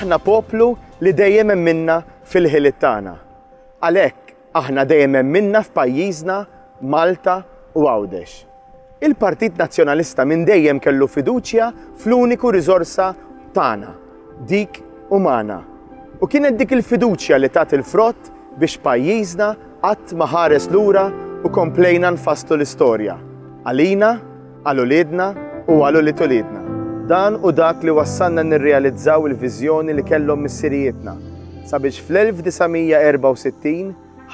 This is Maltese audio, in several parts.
Aħna poplu li dejjem minna fil-ħiliet tagħna. Għalhekk, Aħna dejjem emminna f'pajjiżna, Malta u Għawdex. Il-Partit Nazzjonalista minn dejjem kellu fiduċja fl-uniku riżorsa tagħna, dik umana. U kienet dik il-fiduċja li tat il-frott biex pajjiżna qatt ma ħares lura u komplejna nfasslu l-istorja, għalina, għal uliedna u għal ulied uliedna. Dan hu dak li wassalna nirrealizzaw il-viżjoni li kellhom missirijietna sabiex fl-1964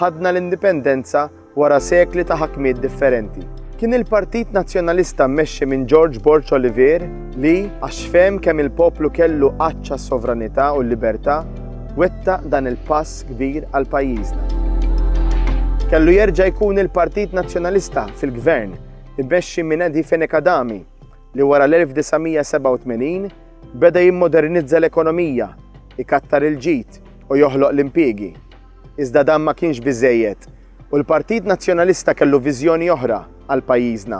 ħadna l-indipendenza wara sekli ta' ħakmiet differenti. Kien il-Partit Nazzjonalista mmexxi minn George Borg Olivier li, għax fehem kemm il-poplu kellu għaċċa s-sovranità u l-libertà, wettaq dan il-pass kbir għal pajjiżna. Kellu jerġa' jkun il-Partit Nazzjonalista fil-Gvern Immexxi minn Eddie Fenech Adami, li wara l-1987 beda jimmodernizza l-ekonomija, ikattar il-ġid u joħloq l-impiegi. Iżda dan ma kienx biżżejjed u l-Partit Nazzjonalista kellu viżjoni oħra għal pajjiżna,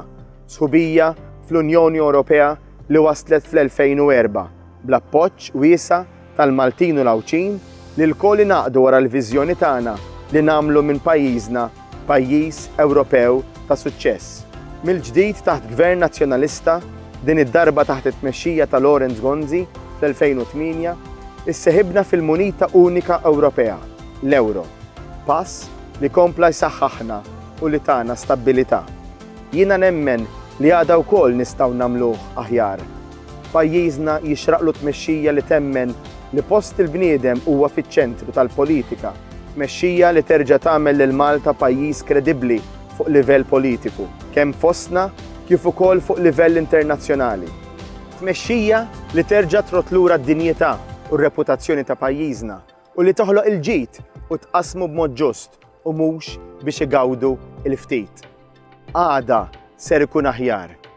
sħubija fl-Unjoni Ewropea li waslet fl-2004 bl-appoġġ wiesa' tal-Maltin u l-Għawdxin li lkoll ingħaqdu wara l-viżjoni tagħna li nagħmlu minn pajjiżna pajjiż Ewropew ta' suċċess. Mill-ġdid taħt Gvern Nazzjonalista, din id-darba taħt it-tmexxija ta' Lawrence Gonzi fl-2008, isseħibna fil-munita unika Ewropea, l-Ewro, pass li kompla jsaħħaħna u li tana stabbilità. Jiena nemmen li għada wkoll nistgħu nagħmluh aħjar. Pajjiżna jixraqlu tmexxija li temmen li post il-bniedem huwa fiċ-ċentru tal-politika, tmexxija li terġa' tagħmel lil Malta pajjiż kredibbli fuq livell politiku, kemm fostna kif ukoll fuq livell internazzjonali, tmexxija li terġa' trodd lura d-dinjità u r-reputazzjoni ta' pajjiżna u li toħloq il-ġid u tqassmu b'mod ġust u mhux biex igawdu l-ftit. Għada ser ikun aħjar.